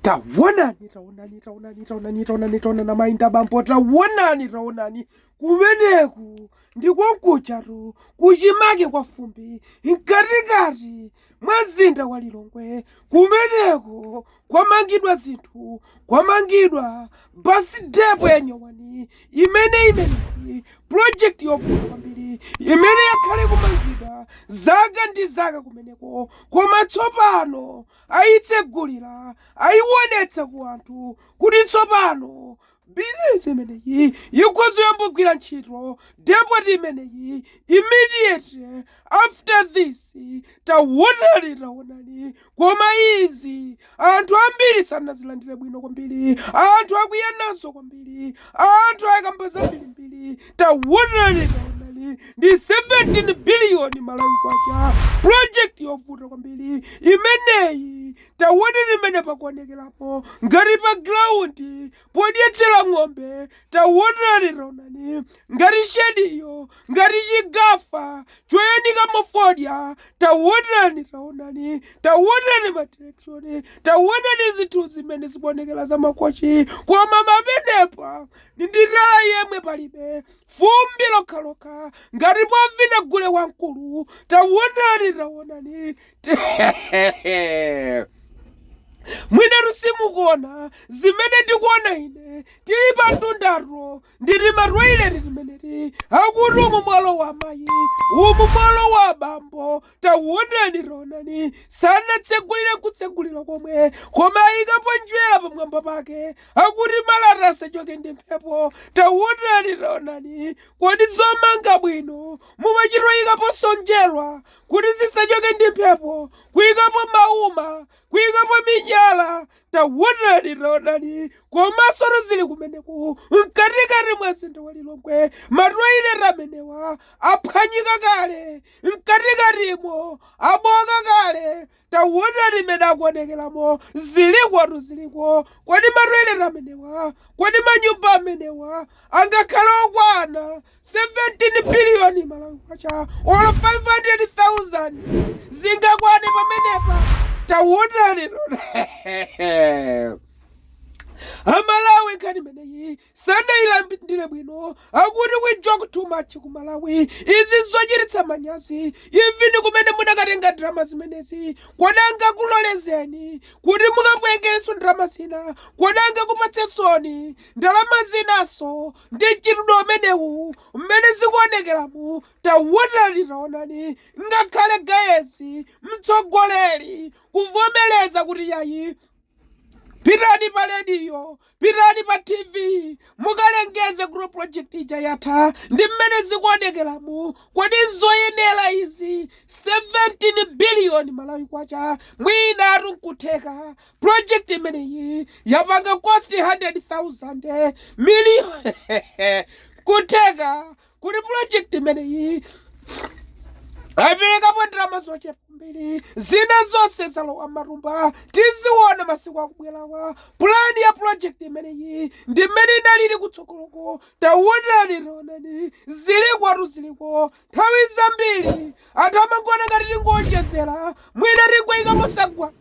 tawonani tawonani tawonani tawonani tawonani tawonana mainda bambo tawonani tawonani kumeneku ndikonkucharu kuchimake kwa fumbi mkatikati mwa mzinda wa lilongwe kumeneko kwamangidwa zinthu kwamangidwa basi depo ya nyowani imene imeneyi projekti yokulu kwambiri imene yakhale kumangidwa zaka ndi zaka kumeneko koma tsopano ayitsegulira, ayiwonetsa ku anthu kuti tsopano business imeneyi ikhoza kuyamba kugwira ntchito, depot imeneyi immediately after this tawonani tawonani koma izi anthu ambiri sanazilandire bwino kwambiri, anthu akwiya nazo kwambiri, anthu akukamba zambirimbiri tawonani tawonani ndi 17 biliyoni malawi kwacha project yovuta kwambiri imeneyi tawonani mmene pakuonekerapo ngati pa ground podyetsera ng'ombe tawonani tawonani ngati shediyo ngati chigafa choyanika mafodya tawonani tawonani tawonani madirekshoni tawonani zinthu zimene zikuonekera za makochi koma pamenepa ndi tala yemwe palibe fumbi lokhalokha ngati povina gule wamkulu tawonani tawonani mwina simukuona zimene ndikuona ine tili pamtundatu ndi timatoileti timeneti akuti umu mwalowa amayi umu mwalowa abambo tawonani tawonani sanatsegulire kutsegulira komwe koma ayikapo njerwa pamwamba pake akuti malata asachoke ndi mphepo tawonani tawonani kodi zomanga bwino mumachitoyikaponso njerwa kuti zisachoke ndi mphepo kuyikapo mauma kuikapo miyala tawonani tawonani komansotu zili kumeneko mkatikati mwa mzinda wa lilongwe matoileti amenewa aphwanyika kale mkatikatimo abooka kale tawonani mmene akuonekeramo zilikotu ziliko kodi matoileti amenewa kodi manyumba amenewa angakhale okwana 17 billion malawi kwacha or 500000 zingakwane pamenepa tawonani tawonani amalawi nkhani imeneyi sanailandire bwino akuti we joke too much ku malawi izi zochititsa manyazi even kumene munakatenga ndalama zimenezi kodi angakulolezeni kuti mukatengerenso ndalama zina kodi angakupatseninso ndalama zinanso Ndi mchitidwe umenewu mmene zikuonekeramu. Taonani, taonani, ngakhale Gayezi, mtsogoleri, kuvomereza kuti yayi, pitani pa radio, pitani pa TV, mukalengeze kuti project ija yatha. Ndi mmene zikuonekeramu. Kodi nzoyenera izi? 17 billion Malawi kwacha, mwinatu nkutheka. project imeneyi yapanga cost 100,000 million kutheka kuti project imeneyi aperekapo ndalama zochepa kwambiri zina zonse zalowa m'matumba tiziona masiku akubwerawa pulani ya project imeneyi ndi mmene inalili kutsogoloko taonani taonani zilikotu ziliko Nthawi zambiri anthu amangoona ngati tikungowonjezera, mwina tingoika mosagwa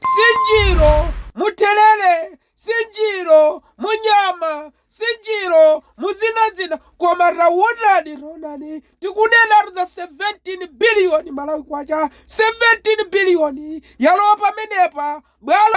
nsinjiro mutherere, nsinjiro munyama, nsinjiro muzinazina. Koma taonani, taonani, tikunenatu za 17 biliyoni Malawi kwacha, 17 biliyoni yalowa pamenepa bwalo